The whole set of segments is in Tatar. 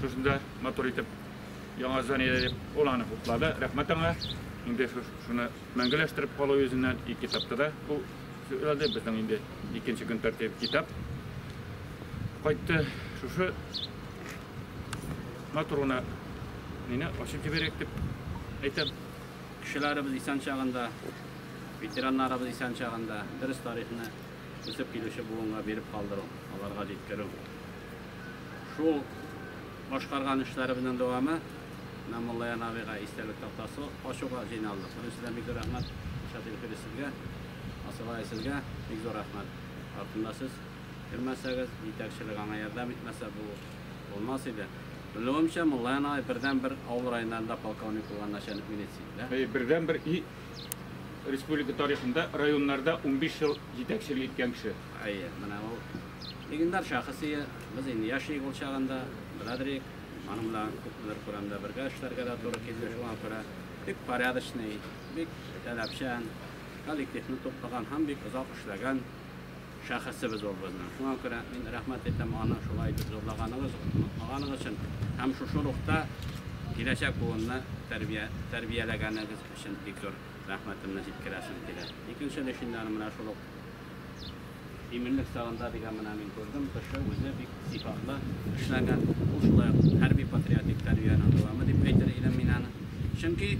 Шусын да матур итеп яңа зданиедә дип ул аны хуплады. Рәхмәт аңа. Инде шуны мәңгеләштереп калу йөзеннән и китапта да бу сөйләде. Безнең инде икенче көн тәртибе китап кайтты. Шушы матур гына мине ачып җибәрәк дип әйтәм. Кешеләребез исән чагында, ветераннарыбыз исән чагында дөрес тарихны үсеп килүче буынга биреп калдыру, аларга җиткерү. Шул башкарган эшләребезнең дәвамы менә Муллаян абыйга истәлек тактасы ачуга җыйналдык. Беренчедән бик зур рәхмәт Илшат Илфирис сезгә, Асылай сезгә бик зур рәхмәт. Артында сез килмәсәгез, җитәкчелек аңа ярдәм итмәсә бу булмас иде. Белүемчә, Муллаян агай бердәнбер авыл районнарында полковник булган начальник милиция иде, дә? Әйе, бердәнбер и республика тарихында районнарда унбиш ел җитәкчелек иткән кеше. Әйе, менә ул. Легендар шәхес ие, без инде яшик ул чагында, беләдерик, аның белән күпмедер күләмдә бергә эшләргә дә туры килде, шуңа күрә бик порядочный, бик таләпчән, коллективны туплаган һәм бик озак эшләгән шәхесебез ул безнең. Шуңа күрә мин рәхмәт әйтәм аны шулай итеп зурлаганыгыз, онытмаганыгыз өчен һәм шушы рухта киләчәк буынны тәрбия, тәрбияләгәнегез өчен бик зур рәхмәтемне җиткерәсем килә. Икенче легендарым менә шул ук Иминлек чагында дигән менә мин күрдем, кеше үзе бик сыйфатлы эшләгән. Ул шулай ук хәрби-патриотик тәрбиянең дәвамы дип әйтер идем мин аны. Чөнки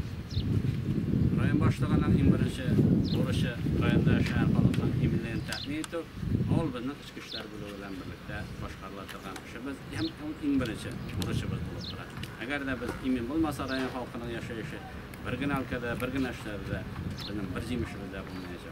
район башлыгының иң беренче бурычы районда яшәгән халыкның иминлеген тәэмин итү, ул безнең эчке эшләр бүлеге белән берлектә башкарыла торган эшебез һәм ул иң беренче бурычыбыз булып тора. Әгәр дә без имин булмаса, район халкының яшәеше бер генә өлкәдә, бер генә эшләре дә безнең бер җимешебез дә булмаячак.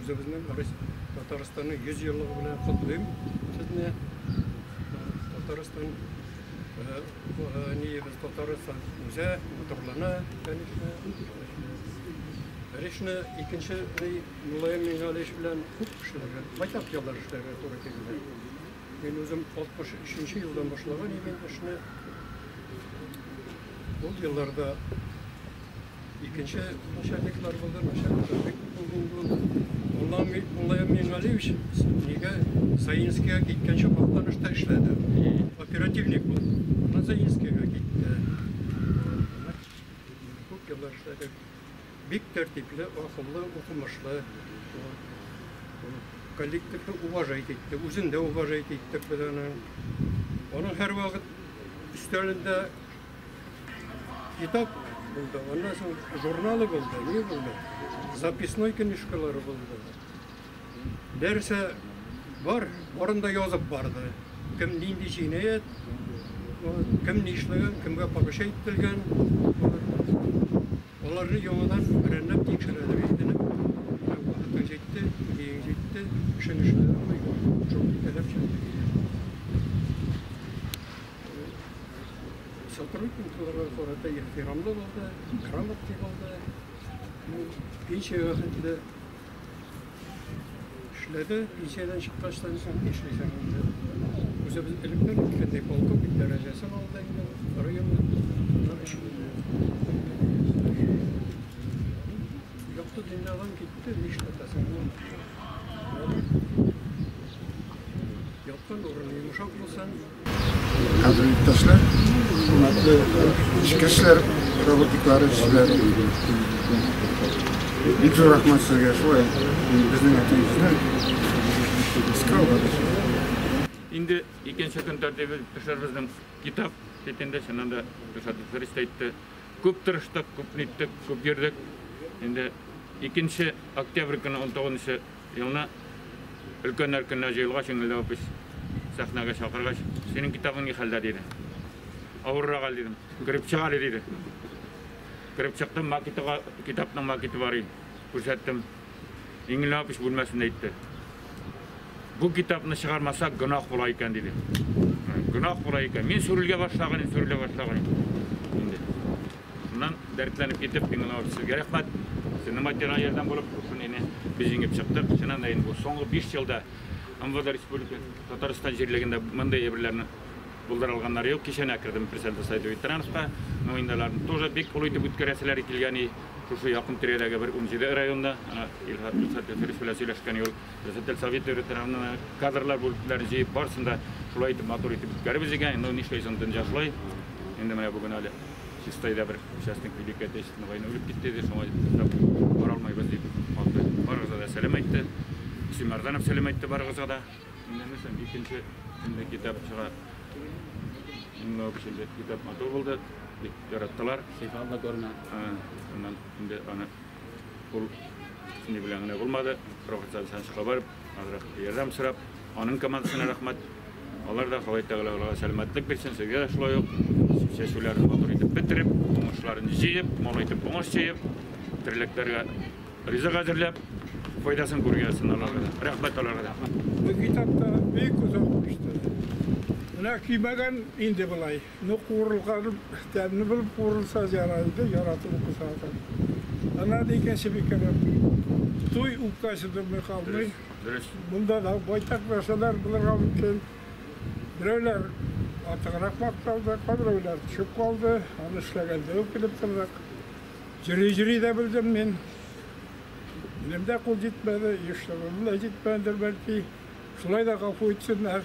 Үзебезнең Татарстанның 100 еллыгы белән котлыйм сезне. Татарстан ниебез Татарстан үзе матурлана, конечно. Речны икенче Муллаем Миңгалевич белән күп эшләргә, байтак еллар эшләргә туры килде. Мин үзем 63 елдан башлаган идем эшне. Ул елларда Икенче начальниклар булды, начальниклар бик булган булды. Улам Муллаев Миңгалиевич нигә Саинскийга киткәнче Актанышта эшләде. Оперативник булды. Аннан Саинскийга китте. Күп еллар эшләде. Бик тәртипле, акыллы, укымышлы. Коллективны уважать итте, үзен дә уважать итте. Аның һәрвакыт өстәлендә Китап булды, аннан соң журналы булды, ни булды, записной книжкалары булды. Нәрсә бар, барында язып барды. Кем нинди җинаять, кем нишләгән, кемгә поручать ителгән. Аларны яңадан берәмләп тикшерәләр инде. Менә вакыты җитте, миең җитте, эшең эшләп булмый, шундый таләп чыкты диләр. Сотрудникларга карата ихтирамлы булды, грамотный булды. Пенсиягә хәтле Эшләде, пенсиядән чыккач та соң ни эшләсәң инде. Үзебез элеккән иткәндәй полковник дәрәҗәсен алды инде, районда эш булды. Якты дөньядан китте, ни эшләтәсең ул? Яткан урын йомшак булсын. Хәзер иптәшләр, хөрмәтле эшкәшләр, роботиклар эшчеләр. Бик зур рәхмәт сезгә шулай безнең әтиебезне искә алдыгыз. Инде икенче көн тәртибе төшәрбезнең китап бит инде чыннан да Ришат Фәрис тә әйтте. Күп тырыштык, күп ниттек, күп йөрдек. Инде икенче октябрь көне 19 Елны өлкәннәр көненә җыелгач, Иңелдә опись сәхнәгә чакыргач, Синең китабың ни хәлдә? диде. Авыррак әле, дидем. Кереп чык әле, диде. Кереп чыктым, макетыга, китапның макеты бар иде. Күрсәттем. Иңелдә опись бүлмәсендә әйтте. Бу китапны чыгармасак, гөнаһ була икән, диде. Гөнаһ була икән. Мин сүрелгә башлаган идем, сүрелә башлаган идем. Инде. Шуннан дәртләнеп китеп, мин аңа сезгә рәхмәт. Сезнең материаль ярдәм булып, шуны инде без җиңеп чыктык. Чыннан да инде бу соңгы 5 елда МВД республика Татарстан җирлегендә мондый әйберләрне булдыра алганнар юк. Кичәнә кердем Персенда сайты ветеранска. Ну инде аларны тоже бик олы итеп үткәрәселәр килгән и шушы якын тирәдәге бер 17 районда, ана Илһад Хәсән белән сөйләшкән юл. Председатель совет йөрү тарафыннан кадрлар бүлекләрен җыеп, барысын да шулай итеп матур итеп үткәребез икән. Ну, нишләйсең, дөнья шулай. Инде менә бүген әле Чистайда бер участник Великой Отечественной войны үлеп китте иде, шуңа туктап бара алмыйбыз дип алды. Барыгызга да сәлам әйтте. Исем Мәрданов сәлам әйтте барыгызга да. Инде нәрсәм, икенче инде китап чыга. Инде икенче китап матур булды. Бик яраттылар. Сыйфатлы күренә. Аннан инде аны Ул ни белән генә булмады, профессор Александровичка барып, азрак ярдәм сорап, аның командасына рәхмәт. Алар да Ходай Тәгалә аларга сәламәтлек бирсен, сезгә дә шулай ук. Чәчүләрен матур итеп бетереп, уңышларын җыеп, мол итеп уңыш җыеп, терлекләргә ризык әзерләп, файдасын күргәнсен аларга. Рәхмәт аларга да. Бу китапта бик озак күчте. Менә көймәгән инде былай. Ну, куырылганы тәмле булып куырылса ярар иде, яратып укыса адам. Ана да икенче бик кәрәк. Туй үпкәсе дөрмый калмый. Дөрес. Бунда да байтак нәрсәләр булырга мөмкин. Берәүләр артыграк макталды, кайберәүләр төшеп калды. Аны эшләгәндә үк белеп тордык. Җөри-җөри дә белдем мин. Минем дә кул җитмәде, еш та җитмәдер бәлки. Шулай да гафу итсеннәр.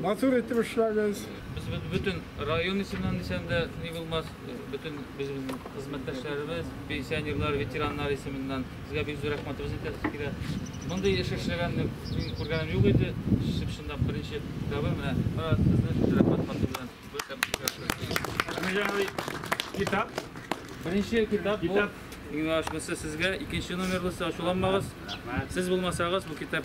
Матур итеп эшләгез. Без бөтен район исеменнән дисәм дә ни булмас, бөтен без безнең хезмәттәшләребез, пенсионерлар, ветераннар исеменнән сезгә бик зур рәхмәтебезне әйтәсе килә. Мондый эш эшләгәнне мин күргәнем юк иде. Чынлап беренче тәве менә сезне шушы рәхмәт хаты белән бер тәмсез. Китап. Беренче китап бу. Иң ачмысы сезгә икенче номерлысы ачуланмагыз. Сез булмасагыз бу китап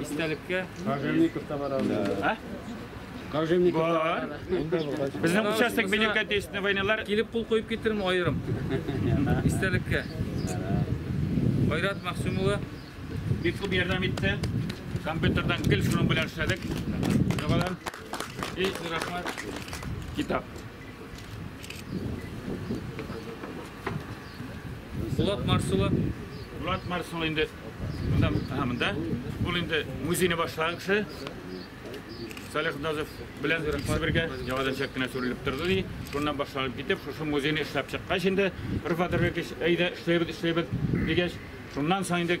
Истәлеккә. Кожевников та бар анда. Кожевников та бар. Безнең участок белем кәтесенә войналар. Килеп кул куеп китерме аерым? Истәлеккә. Айрат Максим улы бик күп ярдәм итте. Компьютердан гел шуның белән эшләдек. Җавалар. И, рәхмәт. Китап. Булат Марсулы. Булат Марсулы инде монда, ага, монда. Ул инде музейны башлаган кеше. Салих Назов белән икесе бергә яңадан чәк кенә сүрелеп торды ди. Шуннан башланып китеп, шушы музейны эшләп чыккач инде, Рифат Рәбикович, әйдә эшләбез, эшләбез дигәч, шуннан соң инде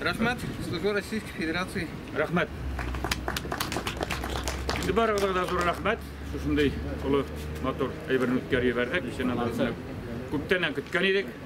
Рәхмәт, Служба Российской Федерации. Рәхмәт. Сез барыгызга да зур рәхмәт. Шушындый олы матур әйберне үткәреп җибәрдек. Исән-аман күптәннән көткән идек.